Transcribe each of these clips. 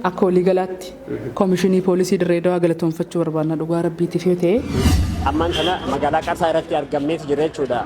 Akka waliigalaatti Komishinii Poolisii Dirree Dawaa galatoomfachuu barbaadna dhugaa Rabbiitiif yoo ta'e. Ammaan tana magaalaa Qarsaa irratti argamneeti jirra jechuudha.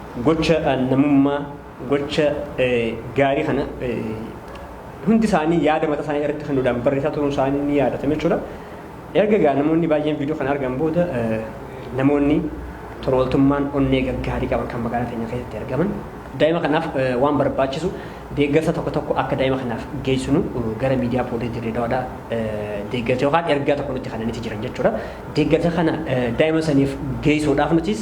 Gocha namummaa, gocha gaarii kana hundi isaanii yaada mataa isaanii irratti hunduudhaan barreessaa turuun isaanii ni yaadatame jechuudha. Erga egaa namoonni baay'een viidiyoo kana argan booda namoonni tola ooltummaan onnee gaggaarii qaban kan magaalaa keenya keessatti argaman daa'ima kanaaf waan barbaachisu deeggarsa tokko tokko akka daa'ima kanaaf geessinu gara miidiyaa poolisii dirree dawaadhaa deeggarsa yookaan ergaa tokko nutti kananitti jiran jechuudha. Deeggarsa kana daa'ima saniif geessuudhaaf nutis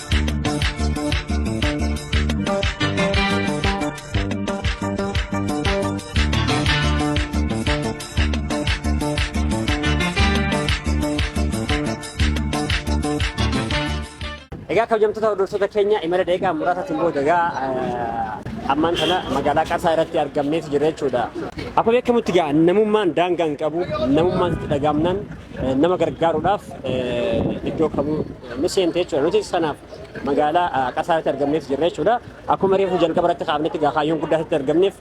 Egaa kabajamtoota hordoftoota keenya imala daqiiqaa muraasaatiin booda egaa ammaan kana magaalaa Qarsaa irratti argamneeti jira jechuudha. Akkuma beekamutti egaa namummaan daangaa hin qabu namummaan itti dhagaamnaan nama gargaaruudhaaf iddoo kamuu ni seente jechuudha. Nutis kanaaf magaalaa Qasaaritti argamneef jirra jechuudha. Akkuma reefu jalqaba irratti kaafnetti egaa kaayyoon guddaa asitti argamneef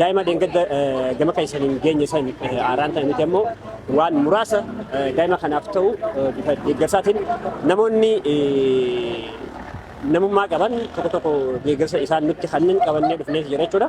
daa'ima dheengadda gama keessaniin geenye san aaraan ta'e miti ammoo waan muraasa daa'ima kanaaf ta'u bifa deeggarsaatiin namoonni namummaa qaban tokko tokko deeggarsa isaan nutti kanneen qabannee dhufneef jira jechuudha.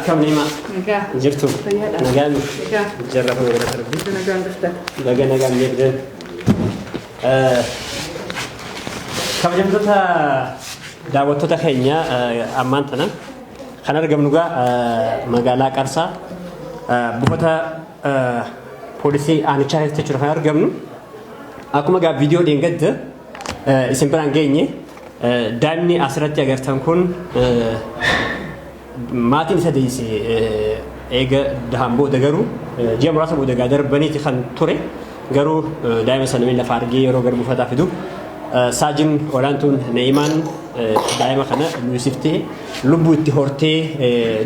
Akkam Niimaa? Nagaa. Jirtu? Fayyaadha. Nagaa miti? Nagaa. Jarra kun gara darbii. Itti nagaan dhufta. Nagaa nagaan beektan. Kabajamtoota daawwattoota keenya eh, ammaan tana kan argamnu egaa eh, magaalaa Qarsaa eh, buufata eh, poolisii aanichaa keessa jechuudha kan argamnu. Akkuma egaa viidiyoo dheengadda isin biraan geenye daa'imni asirratti agartan kun maatiin isa deesse eega dahan booda garuu ji'a muraasa booda egaa darbaniiti kan ture garuu daa'ima sana miila lafaa argee yeroo gara buufataa fidu saajin olaantuun na'imaan daa'ima kana luusiftee lubbuu itti hortee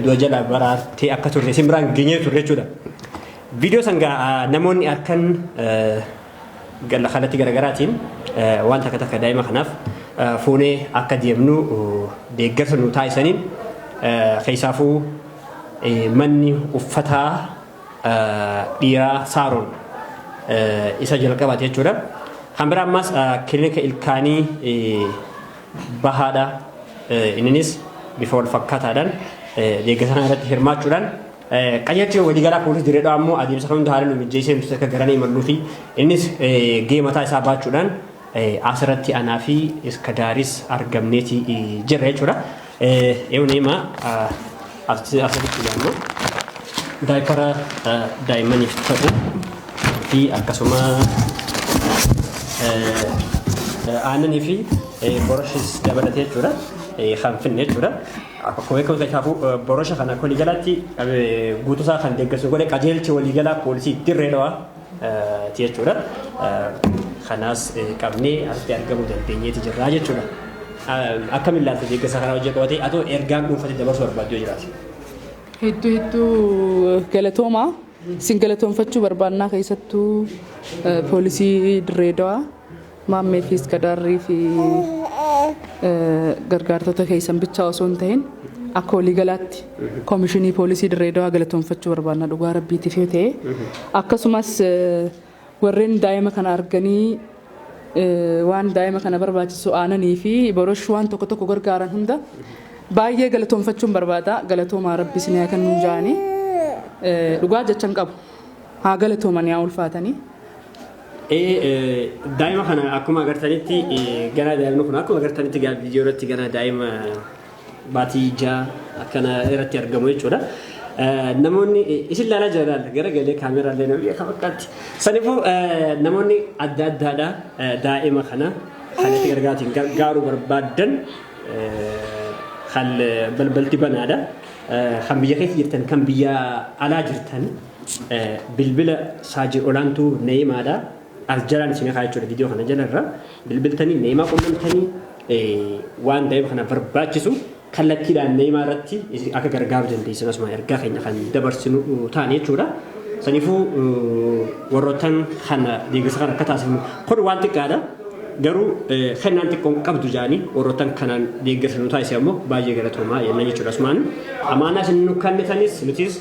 du'a jala baraartee akka turte isin biraan geenyee turre jechuudha. Viidiyoo sangaa namoonni harkan Ganna kallattii garagaraatiin waan takka takka daa'ima kanaaf fuunee akka deemnu deeggarsa nuu taasisaniin keessaafuu manni uffataa dhiiraa saaroon isa jalqabaati jechuudha. Kan biraa ammaas kilinika ilkaanii bahaadha. Inninis bifa wal fakkaataadhaan deeggarsa kana irratti hirmaachuudhaan Qajeelchi waliigalaa poolisii Dirree Dhawaa immoo adeemsa kan hunda haala nu mijjeessee nuti akka garanee imalluu fi innis gahee mataa isaa baachuudhaan asirratti anaa fi Iskadaaris argamneeti jirra jechuudha. Eewna himaa asirratti ilaallu daayipara daa'immaniif ta'u fi akkasuma aannanii fi boroshiis dabalatee jechuudha kan finne jechuudha. Akkuma beekamu Taayitaafuu borosha kana akka waliigalaatti guutuusaa kan deeggarsu godhe qajeelcha waliigalaa poolisii dirree dhawaa ti jechuudha. Kanaas qabnee asitti argamuu dandeenyeeti jirraa jechuudha. Akkam ilaalta deeggarsa kanaa hojii qabatee atoo ergaan dhuunfatti dabarsuu barbaaddu yoo jiraate? Hedduu hedduu galatoomaa. Isin galatoomfachuu barbaannaa keessattuu poolisii dirree dhawaa. Maammee fi Iskadaarrii fi gargaartota keessan bichaa osoo hin ta'in akka waliigalaatti Koomishinii Poolisii Dirree Dawaa galatoomfachuu barbaadna dhugaa rabbiitiif yoo ta'e akkasumas warreen daa'ima kana arganii waan daa'ima kana barbaachisu aananii fi borosh waan tokko tokko gargaaran hunda baay'ee galatoomfachuun barbaada galatoomaa rabbi isin haa kennu jaanii dhugaa jechan qabu haa galatooman yaa ulfaatanii. Daa'ima kana akkuma agartanitti ganaa daa'imni kun akkuma agartanitti gaa viidiyoo irratti ganaa daa'ima baatii ijaa akkana irratti argamu jechuudha. Namoonni isin ilaalaa jiraan gara galee kaameeraa illee namni akka fakkaatti. Sanifuu namoonni adda addaadha daa'ima kana kan itti gargaatiin gargaaruu barbaadan kan balbalti banaadha. Kan biyya keessa jirtan kan biyya alaa jirtan. Bilbila Saajid Olaantuu Na'imaadha. As jalaan isin kaa jechuudha viidiyoo kana jala irra bilbiltanii Na'imaa qunnamtanii waan daa'ima kana barbaachisu kallattiidhaan Na'imaa irratti akka gargaaru dandeessan asuma ergaa keenya kan dabarsinu taane jechuudha. Saniifuu warroottan kana deeggarsa kana akka taasifnu kun waan xiqqaadha. Garuu kennaan xiqqoon qabdu jaanii warroottan kanaan deeggarsa nu taasise ammoo baay'ee galatoomaa jenna jechuudha asumaan. Amaanaa isin nu kennitanis nutis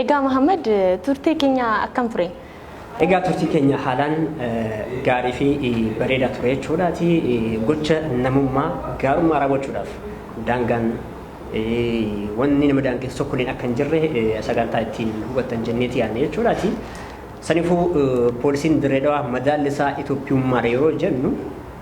Egaa Mahammad turtee keenya akkam ture? Egaa turtii keenya haalaan eh, gaarii fi eh, bareedaa ture jechuudhaati. Eh, Gocha namummaa gaarummaa raawwachuudhaaf daangaan eh, wanni nama daangessu tokkolleen akka hin jirre eh, sagantaa ittiin hubattan jenneeti yaadne jechuudhaati. Sanifuu eh, poolisiin Dirree Dhawaa madaalli isaa Itoophiyummaadha yeroo jennu